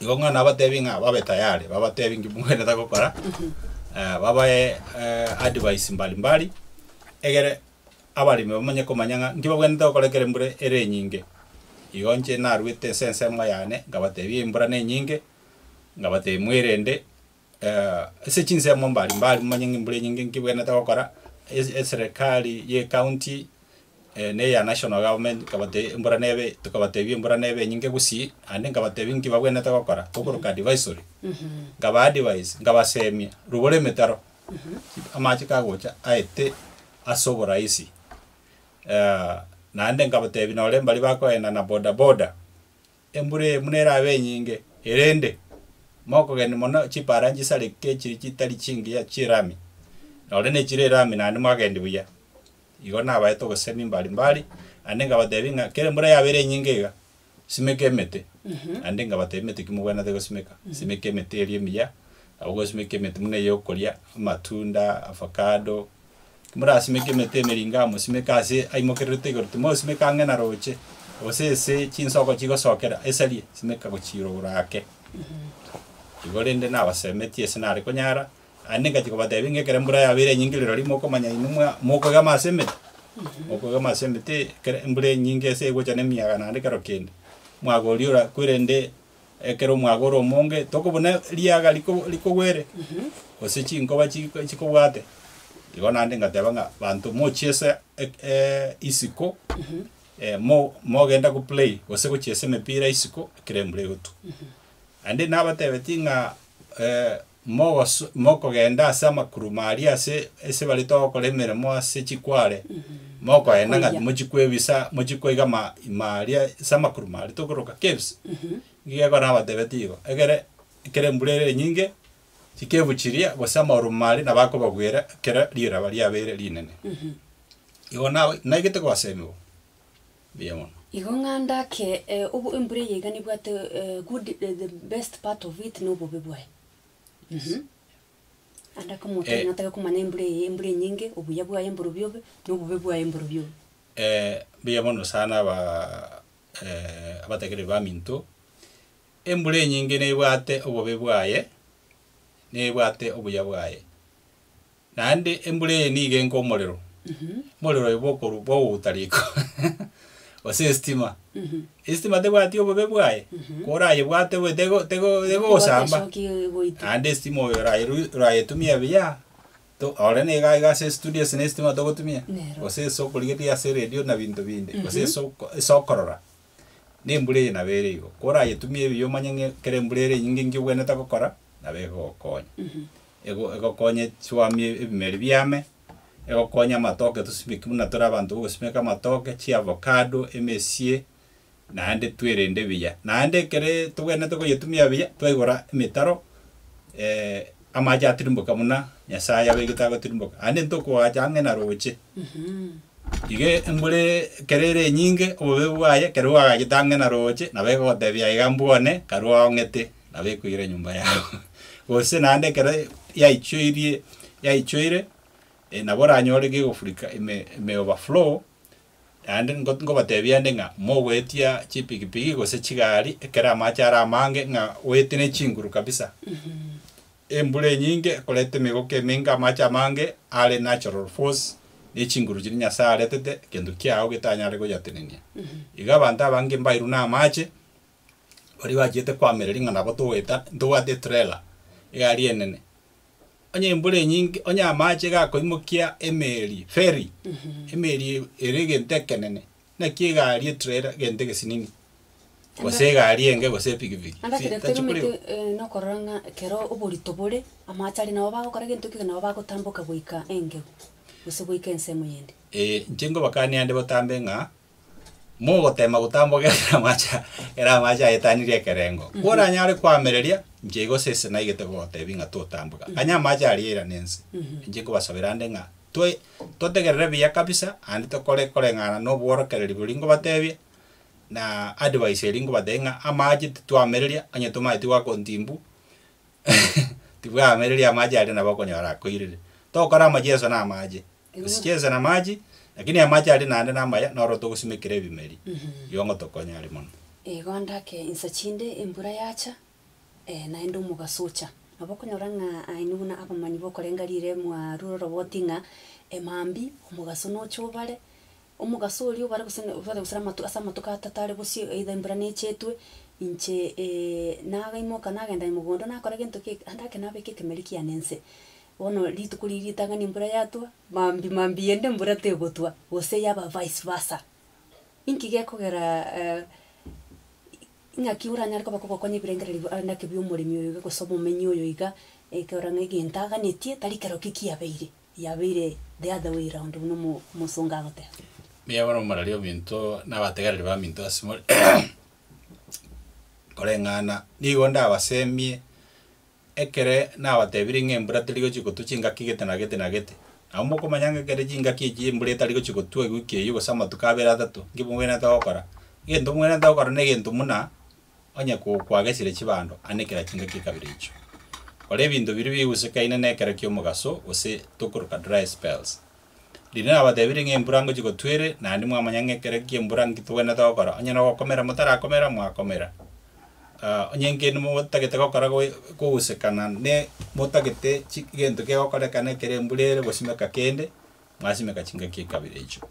Igo ng'a nabatebie ng'a babe tayari, babatebie nki mwenerete gokora, eh, babae eh, advice mbali mbali, egere abaremi bamanye komanya ng'a nki babwenerete gokora ekero embura ere enyinge. Igo inche narwete ense ensemo yane, nkabatebia embura nenyinge, nkabatebia mwerende, Ase chinsemo mbari mbari momanye ng'a embura enyinge nki ebwenerete gokora, eserekari y'ecounty na eya national government nkabatebi embura nebe tokabatebi embura nebe enyinge gusii naende nkabatebi nki babwenerete gokora tokoroka advisory nkaba advise nkabasemia rugoro emetaro amache kagocha aete ase oborahisi naende nkabatebi nore mbari bakoenda na bodaboda Embura eye buna erabe enyinge, erende mokogenda mono chipaara nchisareke echiri chitari chingiya chirami, nore nechire erami naende mwagenda buya. Igo nabaete obosemi mbare mbare, naende nkabatebia ng'a kera embura yaaba ere enyinge iga, simeka emete. Naende nkabatebia emete ki mogwenerete gosimeka, simeka emete eria emiya, nabo gosimeka emete buna eyokoria, amatunda, avocado, Timorasimeka emete emeringa mosimeke ase aimokererete igoro, timosimeka ang'e na roche, gose ase chinsoko chigosokera esarie, simeka gochiira igoro ake. Igo rende nabasemetie ase nare konyara, naende ingachia kobatebia ng'a ekero embura yabeire enyinge rirorio mokomanya inwe mwa- mokogema ase emete, mokogema ase emete ekero embura enyinge ase egocha na emiyaga naende kero kende, mwagoria ora- kwerende. Ekero omwaga ore omonge, tokobuna riaga riko rikogwere, gose chinkoba chi chikobwate. Igo naende ngateba ng'a banto mochiesa ek- eh, isiko, eh, mo- mogenda go play gose gochiesa emepira isiko ekero embura egotwa. Naende nabatebetie ng'a eh, Mogoso, mokogenda ase amakuruma aria ase ase bare togokora emeremo ase chikware, mokoenda ng'a Koiya. timochikwebisa, mochikoiga ama ime aria ase amakuruma aria tokoroka caves. Nigo ekero nabatebetie igo, ekere ekero embura ere enyinge, chikevu chiria gose amauruma aria nabo akobagwera ekero riraba riabeire rinene. Igo nabo naigete goseemiwa. mbuya mono. Igo ng'anda ake obo embura eye iga nebwate good the best part of it nobobe bwaye uhmm ande ake omonto onye natake komanya embura eye embura enyinge obuya bwaye mborobio obe nobobe bwaye mborobio obe. Mbuya mono sana aba abatakerire baminto, embura enyinge nebwate obobe bwaye nebwate obuya bwaye. naende embura eye nigo enka omorero, omorero oyo bokorwa bogouta riko gose esitima. Esitima tebwati obobe bwaye, korayebwate bobe tego tego tegosamba, Egotesoki egoita. naende esitima oyo orayeru orayetumie buya, to ore nigo aiga ase estudio ase na esitima togotumia, Nero. gose ase okorigereria ase eredio na binto binde, gose ase oko ase okorora. Nembura eye nabo ere igo. Korayetumie ebiya omanye ng'a kera embura ere enyinge nki obwenerete gokora, nabo egogokonya. Ego egokonye chiwamie ebimeri biame, egokonye amatoke tosimeki buna tore abanto bogosimeka amatoke, chiavocado, emesie, naende twerende buya. Naende ekere tobwenerete goyetumia buya, twaigora emetaro Amache atirimboka buna Nyasae abegete agotirimboka, aye nintwe okoacha ang'e na roche. Iga embura ekero ere enyinge, obobe bwaye ekero bwagachete ang'e na roche, nabo egogotebia iga mbwa one, karue aong'ete, nabo ekoira enyomba yao. Gose naende ekero yaichoirie, yaichoire, nabo oranyore gegofurika ime, ime overflow, Naende ngo- ngobateebia ande ng'a mogoetia chipigipigi gose chigari ekero amache are amange ng'a goetie ne chinguru kabisa. Embura enyinge ekoreta emegoka emenge amache amange are natural force ne chinguru chiria Nyasaye aretete egento kiao getanyare goyatenenia. Iga abanto abange mbairwe na amache baria bachiete koamereria ng'a nabo togoeta ntobwate etrela egari enene. Onye embura enyinge, onye amache gakoimokia emeeri, ferry, emeeri ere egento ekenene, naki egari etrela egento egesinini, gose egari enge gose epikipiki. Anga kere Tachi koreo. terometi eh, nokorora ng'a kero oborito bore, amache aria nabo bagokora egento ekio nabo bagotamboka goika engegu, gose goika ensemo yende. Ee, inche nkobakania ande botambe ng'a. mogoteema gotambogera ere amache, ere amache aetanirie ekerengo. Koranyare koamereria, inche igo sese naigete gogoteebia ng'a totambwe. Gakanya amache aria eira na ense. Inche nkobasabera nde ng'a toe totegerere buya kabisa naende tokore koreng'ana na obworokereri boria nkobateebia, na advice eria nkobateebia ng'a amache titwamereria onye tomanyeti gwakontimbu tibwamereria amache aria nabo okonyora akoirire. Tokore amache enso na amache. gose chinse na amache, lakini amache aria naende namaya, naro togosimekera ebimeri, igo ngotokonye aria mono. Igo ndake insa chinde embura yacha, ee, naende omogaso ocha. Nabo okonyora ng'a aino buna abamanyi b'okorenga riire mwarure oroboti ng'a emambia omogaso nocha obare, omogaso oria obare gose ne obare gose amatu ase amatuko atato are bosio either embura nechetwe, inche nagaimoka nagenda aye mogondo nakora egento kiaye ande ake nabeka ekemeri kiane nse. Bono rituko riria ritang'ani embura yatwa, maambia maambia eyende embura tegotwa, gose yaba vice versa. Inki gekogera ng'aki oranyare koba kogokonya ebirengereri bia ande ake biomoremi oyo iga gose omomenyi oyo iga, ekerore ng'a egento aganetie tari kerokio kiabeire, yabeire the other way round buna omo omosongo agoteba. Mbuya bono morari ominto na abategereri baminto ase more koreng'ana, nigo ndabasemie Ekere nabatebirie ng'a embura teri gochia kotwa chingaki gete na gete na gete, nabo mokomanya ng'a ekere chingaki echio embura etari gochia kotwa ewiki eyio gose amatuko abere atato, inki mobwenerete gokora? Egento mobwenerete gokora negento buna onye kwagesire chibando anekera chingaki ekabere echio. Kora ebinto biria bigusekaine nekero ki'omogaso gose tokoroka dry spells. Riria nabatebirie ng'a embura ngochia gotwa ere, naende mwamanya ng'a ekero ekia embura nki togwenerete gokora, onye nogokomera motarakomera, mwakomera. Ah, onye nki motagete gokora goe kogusekana ne motagete chi gento kegokorekana ekero embura ere gosimeka kende, mwasimeka chingaki ekabere echio.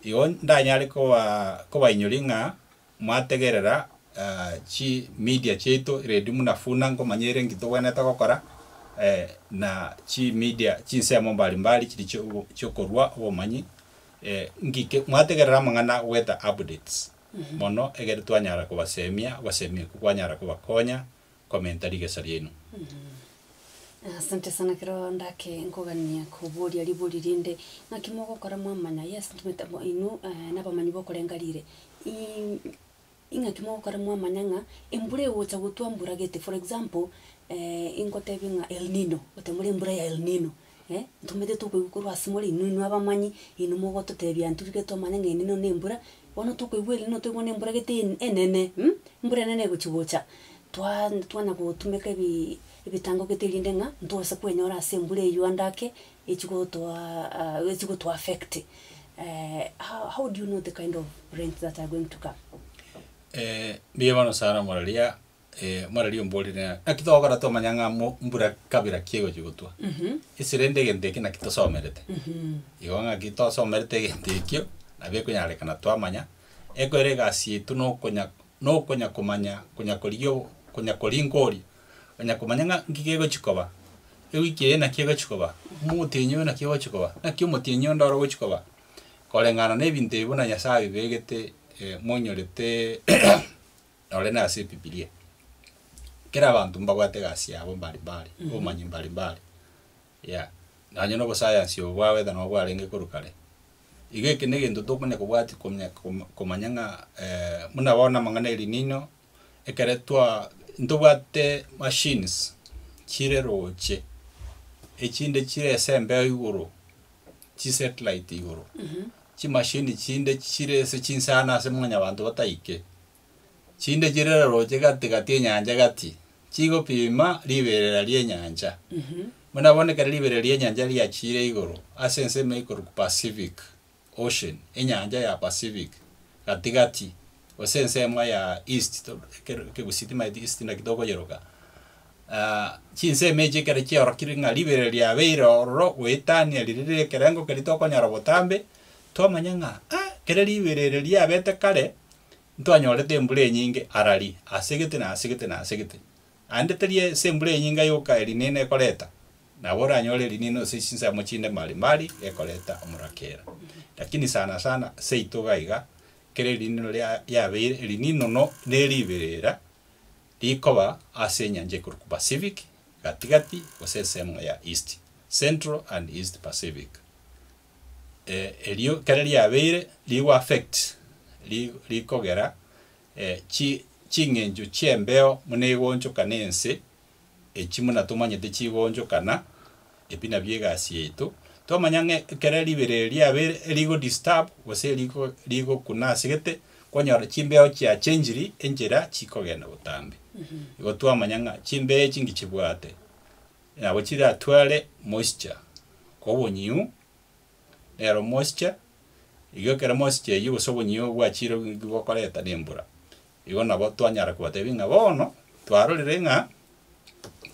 Igo ndanyare koba kobainyoria ng'a Mwategerera chi media chiaito ready muna funa nkomanya ere enki togwenerete gokora na chi media chinsemo mbari mbari chiri chiokorua obomanyi ngiki mwategerera amang'ana goeta updates mono egere twanyara kobasemia gosemi ekwo kwanyara kobakonya. komenta rigesa riaino. Asante sana kero ndake nkogania koboria ribori rinde ng'aki mogokora mwamanya yes ntumete amo inwe nabamanyi bokorenga rire ing'aki mogokora mwamanya ng'a embura egocha gotwa mbura gete for example ingotebie ng'a elnino gotemore embura ya elnino. Eh, ntomanyete tokoigwa korwa ase more inwe inwe abamanyi, inwe mogototebia intwe riria twamanya ng'a ende ino ne embura, bono tokoigwa eri noteba bono embura gete en- enene hm, embura enene egochi gocha, twaa twanya gotumeka ebiiii ebitango gete erinde ng'a ntobasa kwenyora ase embura eywo ande ake, echi gotoaaaa echi goto affect how how do you know the kind of rains that are going to come. mbuya bono sana muraria. muna riria omborire ng'a naki togokora twamanya ng'a mo- mbura kabira ki egochi gotwa, ase rende egento eke naki tosomerete. Igo ng'aki tosomerete egento ekio, nabo ekonyarekana twamanya, ekero egasi yaito na okonya na okonya komanya konya korigia o- konya koringa oria, onya komanya ng'a nki gegochi koba, ewiki eye naki egochi koba, omogotenyi oyo naki ogochi koba, naki omotienyi onde oro ogochi koba. Koreng'ana na ebinto ebi buna Nyasae abibegete monyorete Nore na ase Ebibilia, kera abanto mbabwate egasi yabo mbari mbari, obomanyi mbari mbari, yeah. Nonye na obosayansi obo bwabo ekero nabo bwarenge korwa kare, iga eke na egento tokonya kobwati komya koma komanya ng'a buna bono amang'ana El Nino, ekere twa ntobwate machines chire roche, echinde chire ase embeo igoro, chisatellite igoro. Chimashini chinde chire ase chinsano ase Mwanyabaanto bataike, chinde chire rorooche gati gati enyancha gati, chigopima riberera ri'enyancha. Buna bono ekero riberera ri'enyancha riachiire igoro ase ensemo ekorokwa Pacific Ocean, enyancha ya Pacific, gati gati, gose ensemo ya east to ekero ekegusii timaeti east naki tokoyeroka. chinsemo echi ekero chiarokire ng'a ribere riabeire ororo goetania riria rire ekerengo keria tokonyora botambe, twamanya ng'a ah kere ribere ere riabete kare, ntwanyorete embura enyinge arari ase gete na ase gete na ase gete. Aende teri ase embura enyinge yoka erinena ekoreta, nabo oranyore erinena gose chinsemo chinde mbari mbari gekoreta omorakera. Lakini sana sana seito iga iga, kera eriinino ria yabeire erininono ne riberera rikoba ase enyancha ekorokwa Pacific, gati-gati, gose ensemo ya East, Central and East Pacific. Eh, erio kera riabeire rigo affect ri, rikogera eh, chi, ching'encho chi'embeo buna egonchoka nense, Echi buna tomanyete chigoonchokana, ebi nabio egasi yaito. Twamanya ng'a ekero ribere eri riabe rigo disturb gose rigo rigokuna ase gete, kwanyora chimbeo chia changiri enchera chikogenda botambe. Igo twamanya ng'a chimbeo echi ngichibwate nabo chiratware moisture kobonyiu, nero moisture igo ekero moisture eyio gose obonyiu obwachire igo bokoreta nembura. Igo nabo twanyara kobatebia ng'a bono twarorire ng'a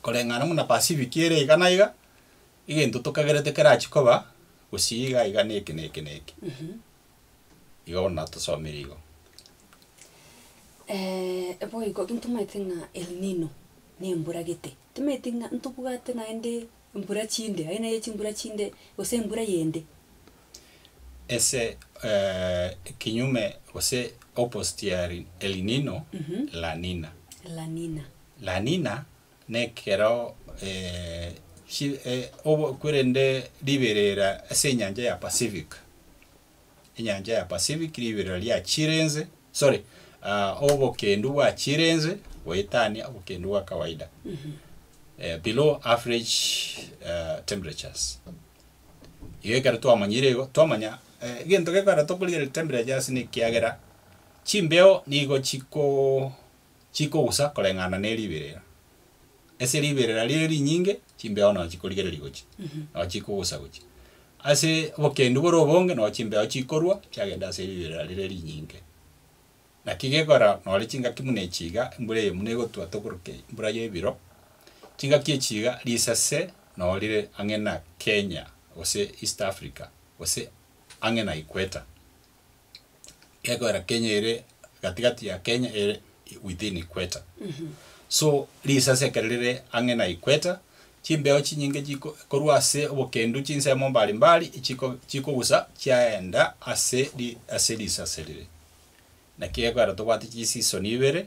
koreng'ana buna Pasifiki ere iga na iga, egento tokagerete kerachie koba gusii iga iga na eke na eke na eke. Igo bono natosomire igo. boigo, intwe tomaete ng'a El Nino nembura gete, tomaeti ng'a ntobwate naende. Embura chinde, aye neye chimbura chinde, gose embura yende. Ase ekinyume gose opposite ya El Nino, La Nina. La Nina. La Nina nekero chi, obokwirende riberera ase enyancha ya Pacific. enyancha ya Pacific riberera riachire inse, sorry, ah, obokendu bwachire inse goetania obokendu bwa kawaida, eh, below average eh, temperatures. Iga ekero twamanyire igo, twamanya eh, egento gekogera tokorigera temperatures nekiagera chimbeo nigo chiko chikogusa koreng'ana ne riberera. Ase riberera rire rinyinge chimbeao nao chikorigereria gochia, nao chikogusa gochia. Ase obokendu bore obonge nao chimbeao chikorwa chiagenda ase riberera rire rinyinge. Naki gekogera nore chingaki buna echi iga, embura eye buna egotwa tokoroka eye, embura ya ebiro, chingaki echi iga risase nao rire ang'e na Kenya gose East Africa gose ang'e na equator. gekorera Kenya ere katikati ya Kenya ere within equator. So risasi ekero rire ang'e na equator chimbeo chinyinge chiko korwa ase obokendu chinsemo mbari mbari chiko chikogusa chiaenda ase ri ase risasi rire. Naki gekorera tobwate chiseason ibere